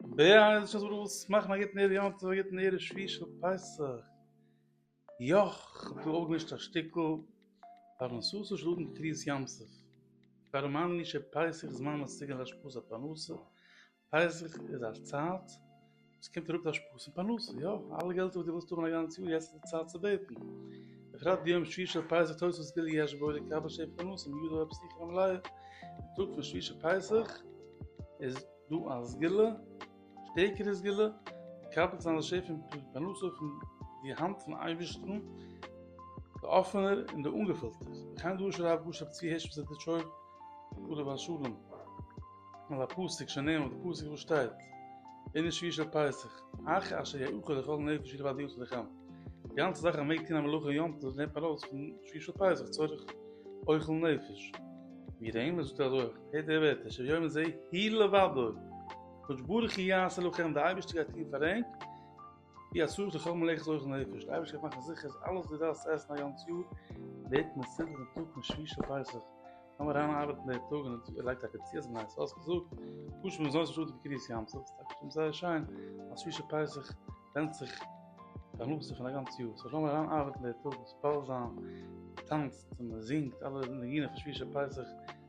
בייז שוין זאגט עס מאכן א גוטן ערב יום טוב א גוטן ערב שביעי של פסח יאך כ'האב דא אויפגעמישט א שטיקל פרנסות שלטים קרית ים סוף פאר מאנני שפסח זמן מסוגל להשפעות הפרנסה פסח איז א צייט וואס קומט אראפ די השפעות פון פרנסה יא אלע געלטער וואס דו ווילסט האבן א גאנץ יאר יעצט איז די צייט צו בעטן בפרט ביום שביעי של פסח טויס וואס גילי יש בו לקבל שפע פרנסה מיודע ופסיכי המלאה טאג פון שביעי של פסח איז דו א סגולה, שטערקערע סגולה, די קאפעל זיין לשפע און פרנסה פון די האנט פון אייבערשטן, די אפענער און די אנגעפילטער, וכן דרש הרב גאש רב צבי הערש מזידיטשוב עליו השלום, על הפסוק שנאמר, די פסוק וואס שטייט, אין די שביעי של פסח, אך אשר יאכל לכל נפש ילבד יום צדקם, די גאנצע זאך אז מ'מעג טון א מלאכה יום טוב לערנט מען ארויס פון שביעי של פסח צורך אוכל נפש, ווי רמ זאגט אזוי. הערט די ווערטער, אשר יאמר זה הי' לבדו, קדוש ברוך הוא יעשה לכם, די אייבערשטער גייט טון פאר ענק, ווי אסור איז לכל מלאכת אוכל נפש, די אייבערשטער גייט מאכן זיכער אז אלעס וואס דו דארפסט עסן א גאנץ יאר, ווערט מסודר דעם טאג פון שביעי של פסח, לאמיר אריין ארבעטן די טאג און ער לייגט טאקע צו אז מען הייסט אויס געזאגט, פשוט ווי מען זאגט שטאט ווי קרית ים סוף, ס'טאקע שטימט זייער שיין אז שביעי של פסח ווענדט זיך פרנסה פון א גאנץ יאר, סאו לאמיר אריין ארבעטן די טאג, ספעלזאם, טאנצט, מען זינגט אלע ניגונים פון שביעי של פסח.